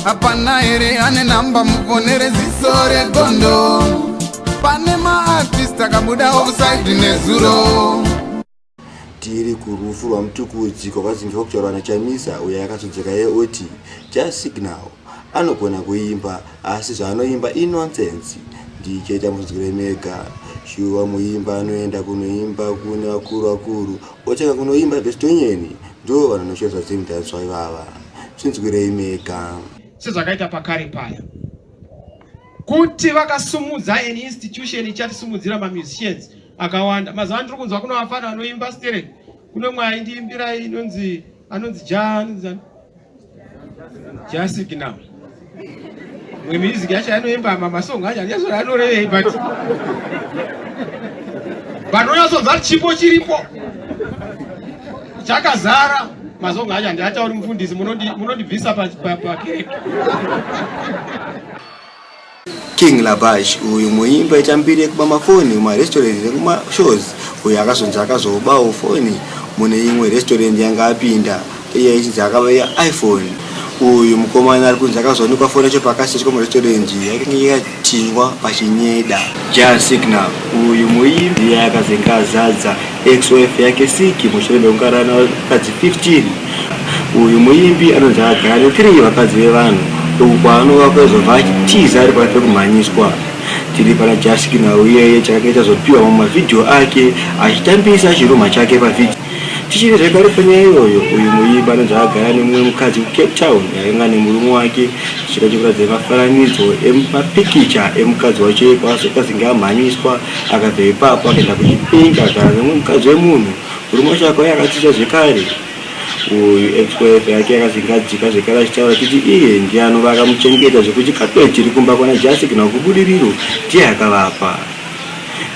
hapana here ane namba mufonere ziso regondo pane maartist akabuda offside nezuro tiri kurufu rwamutukuudziko vazimbi vakutaura na chamisa uyo yakazodzeka ye oti just signal anogona kuimba asi zvaanoimba inonsense ndichaita munzwire mega shuwa muimba anoenda kunoimba kune vakuru vakuru otanga kunoimba bestonyeni ndo vanonoshora zvadzimudanswa ivava Chinzwirei mega. Sezvakaita pakare paya. Kuti vakasumudza an institution ichatisimudzira ma musicians akawanda. Mazuva ndiri kunzwa kuna vafana vanoimba sterek. Kune mwe aindiimbira inonzi anonzi Jan Jan Signal. mwe music yacho anoimba mamasong acho andichazora anorevei but but unyatsonzva chipo chiripo chakazara masong acho andiatauri mufundisi munondibvisa pakereke king labash uyu muimba itambiri yekuba mafoni mumarestaurant nemumashows uyu akazonzi akazobawo foni mune imwe restaurant yanga apinda Iye ichinzi akabaya iPhone uyu mukomana ari kunzi akazowanikwa foni yacho pakaseti komuresitorendi yakange yakatindwa pachinyeda. Jah Signal uyu muimbi iye akazenge azadza ex wife yake Siki mushure mekukarana vakadzi 15. Uyu muimbi anonzi akagara ne 3 vakadzi vevanhu uku kwaanova kwezobva achitiza ari pari pekumhanyiswa. Tiri pana Jah Signal iyeye chakange chazopiwa mumavhidhiyo ake achitambisa chirumha chake pavhidhiyo. Tichiri zvekare panyaya iyoyo, uyu muimbi anonzi agara nemumwe mukadzi kuCape Town ainga nemurume wake zvichida chekuratidza mafaranidzo emapikicha emukadzi wacho iye kwaazoti azinge amhanyiswa akabva ipapo akaenda kuChipinge agara nemumwe mukadzi wemunhu murume wacho akauya akatsitsa zvekare uyu ex-wife yake yakazinge adzika zvekare achitaura achiti iye ndiye anova akamuchengeta zvekuti chikatwe chiri kumba kwana Jasi kana kubudiriro ndiye akavapa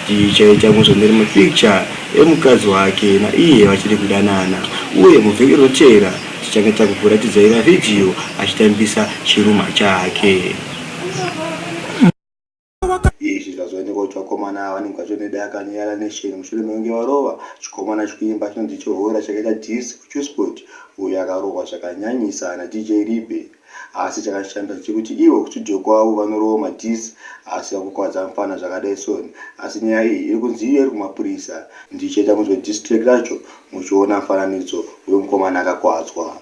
tichaita muzonere mapikicha emukadzi wake naiye vachiri kudanana uye muvhiki rinotevera tichange takukuratidzaira vhidhiyo achitambisa chirumha chake. Izvi zvazoonekwa kuti vakomana ava vanenge vatori nedai akanyara nesheni mushure mekunge varova chikomana chikuimba chinonzi Chohora chakaita dhisi kuCusport uyo akarohwa zvakanyanyisa naDJ Ribe. Asi chakashanda ndechekuti ivo kustudio kwavo vanorowa madiss asi vakukwadza mfana zvakadai son asi nyaya iyi iri kunzi iyo iri kumapurisa. Ndichaita munzwe diss track racho muchiona mufananidzo wemukomana akakwadzwa.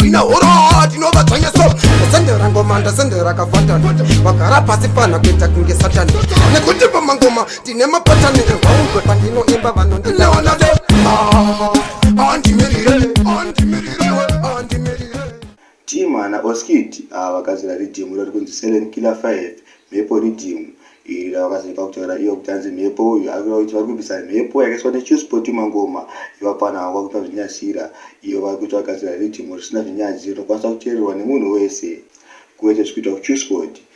Ina huroo ndinova dzvanya so ndasendera ngoma ndasendera kavhatani vagara pasi panha kuita kunge satani nekuti pamangoma tine mapatani evaumbe pandinoimba vanondiona team ana oskid ava vakazira ridhimu iro rikunzi selen killer 5 mhepo ridhimu iri ravakazira pakutaura iyo kuti anzi mhepo uyu ari kuita kuti vari kubvisa mhepo yakaiswa nechuspoti mangoma ivapana vanga vakuita zvinyasira iyo vari kuita vagadzira ridhimu risina zvinyadziro rinokwanisa kuteererwa nemunhu wese kuwete zvikuita kuchuspoti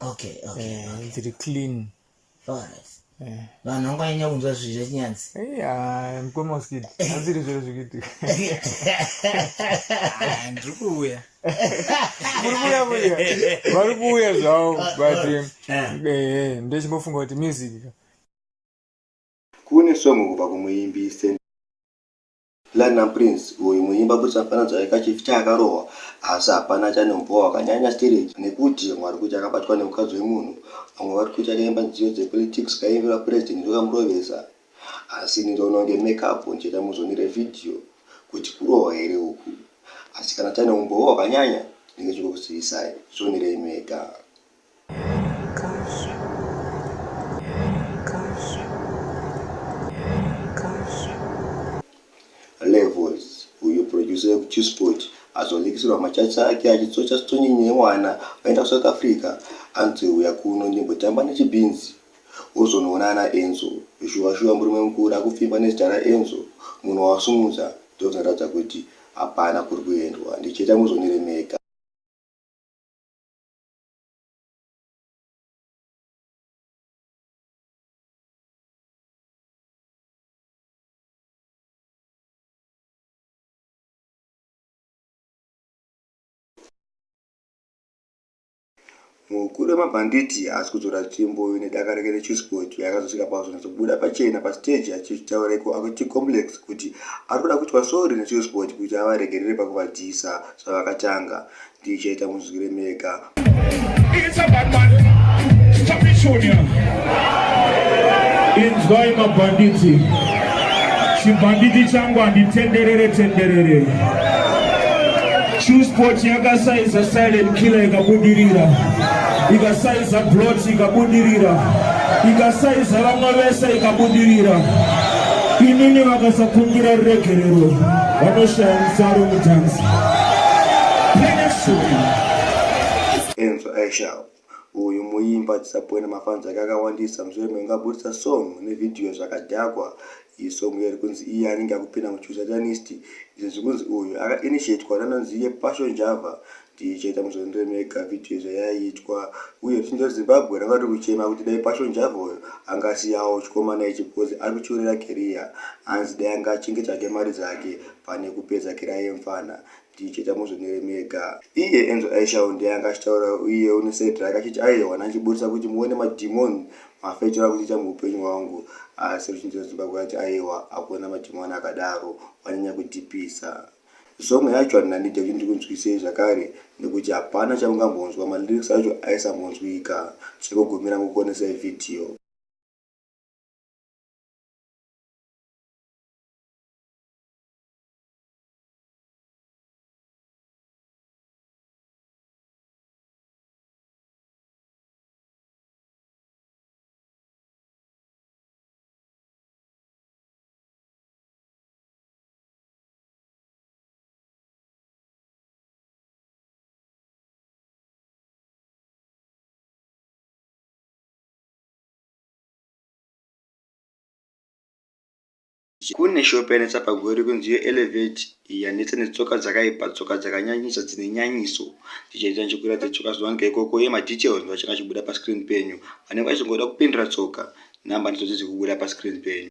okay okay, eh, okay. dziri clean alright eh. vanhu vanganyanya kunzwa zvinhu zvechinyanzi eh, mkoma usikiti aziri zviro zvikuitika ah, ndiri kuuya muri kuuya kuya vari kuuya zvavo ah, but ah. ndechimbofunga kuti music kune songo kubva kumuimbi Platinum Prince uyu muimba kuti afananidza aika chief chaakarohwa asi hapana chane umboo wakanyanya stereki nekuti vamwe vari kuti akabatwa nemukadzi wemunhu vamwe vari kuti akaimba nziyo dzepolitics kaimbirwa president ndokamurovesa asi ini ndoona kunge make up ndichaita muzonire video kuti kurohwa here uku asi kana chane umboo wakanyanya ndinge chikukuzivisai zvonirei mega. levels uyu producer wekuchisport azonikisirwa machachi ake achitsocha stonyenye yemwana aenda kusouth africa anzi uya kuno ndimbotamba nechibhinzi ozonoona ana enzo shuwa shuwa murume mukuru akupfimba nezita raenzo munhu wawasimudza ndozvinoratidza kuti hapana kuri kuendwa ndicheta muzoniremeka Mukuru wemabhanditi haasi kudzora tsvimbo nedaka rake reChuscot yakazosvika pakuzonyatsobuda pachena pastage achitaura iko achiComplex kuti ari kuda kuitwa sorry neChuscot kuti avaregerere pakuvadyisa zvavakatanga. DJ tamunzwire mega. It's a bad man. Stop it, Sonia. Inzwai mabhanditi. Chibhanditi changu handitenderere tenderere. Truesport yakasaiza silent killer ikabudirira. Ikasaiza blot ikabudirira. Ikasaiza vamwe vese ikabudirira. Inini vakasakumbira ruregerero vanoshaya mufaro mutanzi. Enzo Aishao uyu muimba tisapwena mafans ake akawandisa mushure menge aburitsa song nevidhiyo zvakadhakwa iyi song iyo rikunzi iye anenge akupinda muchusatanist izvo zvikunzi uyu akainitiatwa nanonzi yepasho njava tichaita muzondo wemega video zvayaitwa uye tichinzwa zimbabwe ranga riri kuchema kuti dai passion java uyo angasiyawo chikomana ichi because ari kutyorera keriya hanzi dai anga achinge tsvake mari dzake pane kupedza keriya yemfana tichaita muzvonere mega iye enzo aishawo ndiye anga achitaura uye une side rake achiti aiwana achiburitsa kuti muone madhimoni mafecho akuchiita muupenyu hwangu asi ruchinzira zimbabwe ati aiwa akuona madhimoni akadaro wanyanya kudhipisa Song yacho handina need yekuti ndikunzwisei zvakare nekuti hapana chaungambonzwa ma lyrics acho aisambonzwika. Chekugumira kukuonesai video. kune shop yanetsa pagori kunzi yo elevate yanetsa netsoka dzakaipa tsoka dzakanyanyisa dzine nyanyiso tichaita nchikura dzetsoka zuva ngeikoko ye madetails ndovachanga chibuda pascreen penyu vanenge vachingoda kupindura tsoka number ndidzo dzizi kubuda pascreen penyu